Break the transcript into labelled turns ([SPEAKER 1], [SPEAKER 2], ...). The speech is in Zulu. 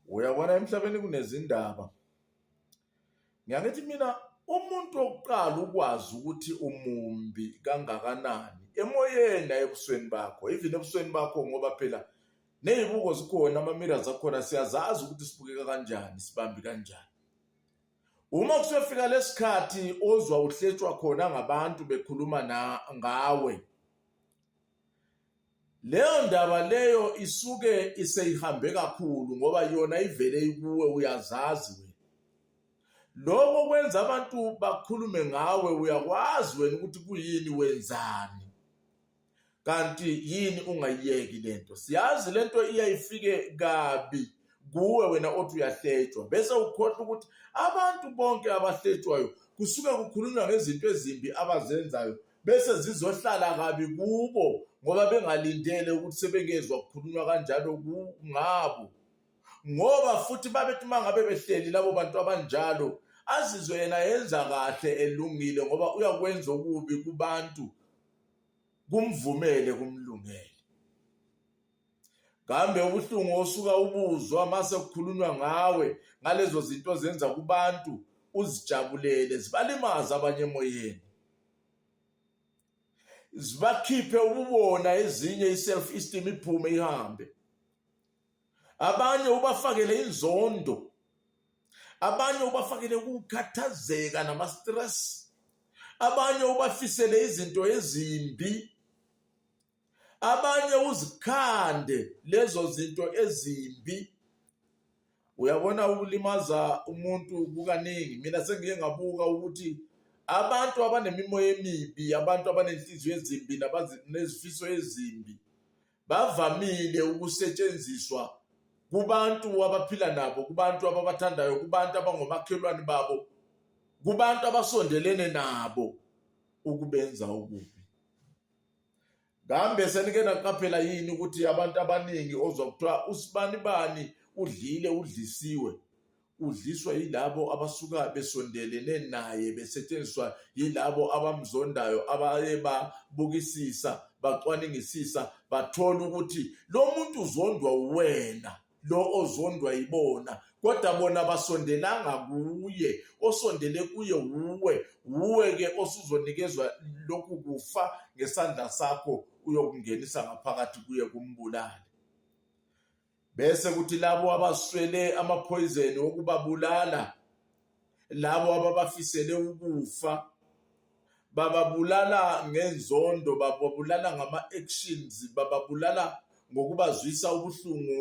[SPEAKER 1] Uyabona emhlabeni kunezindaba. Ngiyangithi mina umuntu wokuqala ukwazi ukuthi umumbi kangakanani emoyeni ayebusweni bakho even ebusweni bakho ngoba phela nezibuko zikhona ama-mirrors akhona siyazazi ukuthi sibukeka kanjani sibambi kanjani uma kusefika lesikhathi ozwa uhletshwa khona ngabantu bekhuluma na ngawe Leyo ndaba leyo isuke iseyihambe kakhulu ngoba yona ivele ikuwe uyazazi wena. Lokho kwenza abantu bakhulume ngawe uyakwazi wena ukuthi kuyini wenzani. Kanti yini ungayiyeki lento. Siyazi lento iyayifike kabi kuwe wena othi uyahletshwa bese ukhohlwa ukuthi abantu bonke abahletshwayo kusuke kukhulunywa ngezinto ezimbi abazenzayo bese zizohlala kabi kubo ngoba bengalindele ukuthi sebengezwa kukhulunywa kanjalo ngabo ngoba futhi babethi uma ngabe behleli labo bantu abanjalo azizwe yena yenza kahle elungile ngoba uyakwenza okubi kubantu kumvumele kumlungele kambe ubuhlungu osuka ubuzwa mase kukhulunywa ngawe ngalezo zinto zenza kubantu uzijabulele zibalimaza abanye emoyeni zibakhiphe ububona ezinye i-self esteem iphume ihambe abanye ubafakele inzondo abanye ubafakele ukukhathazeka nama-stress abanye ubafisele izinto ezimbi abanye uzikhande lezo zinto ezimbi uyabona ukulimaza umuntu kukaningi mina sengiye ngabuka ukuthi abantu abanemimoya emibi abantu abanenhliziyo ezimbi nezifiso ezimbi bavamile ukusetshenziswa kubantu abaphila nabo kubantu ababathandayo kubantu abangomakhelwane babo kubantu abasondelene nabo ukubenza okubi kambe senike naqaphela yini ukuthi abantu abaningi ozwa kuthiwa usibani bani udlile udlisiwe udliswa yilabo abasuka besondelene naye besetshenziswa yilabo abamzondayo abaye babukisisa bacwaningisisa bathola ukuthi lo muntu uzondwa wena lo ozondwa yibona kodwa bona basondelanga kuye osondele kuye wuwe wuwe-ke osuzonikezwa lokhu kufa ngesandla sakho uyokungenisa ngaphakathi kuye kumbulale bese kuthi labo abaswele amaphoyizeni okubabulala labo ababafisele ukufa bababulala ngenzondo bababulala ngama-actions bababulala ngokubazwisa ubuhlungu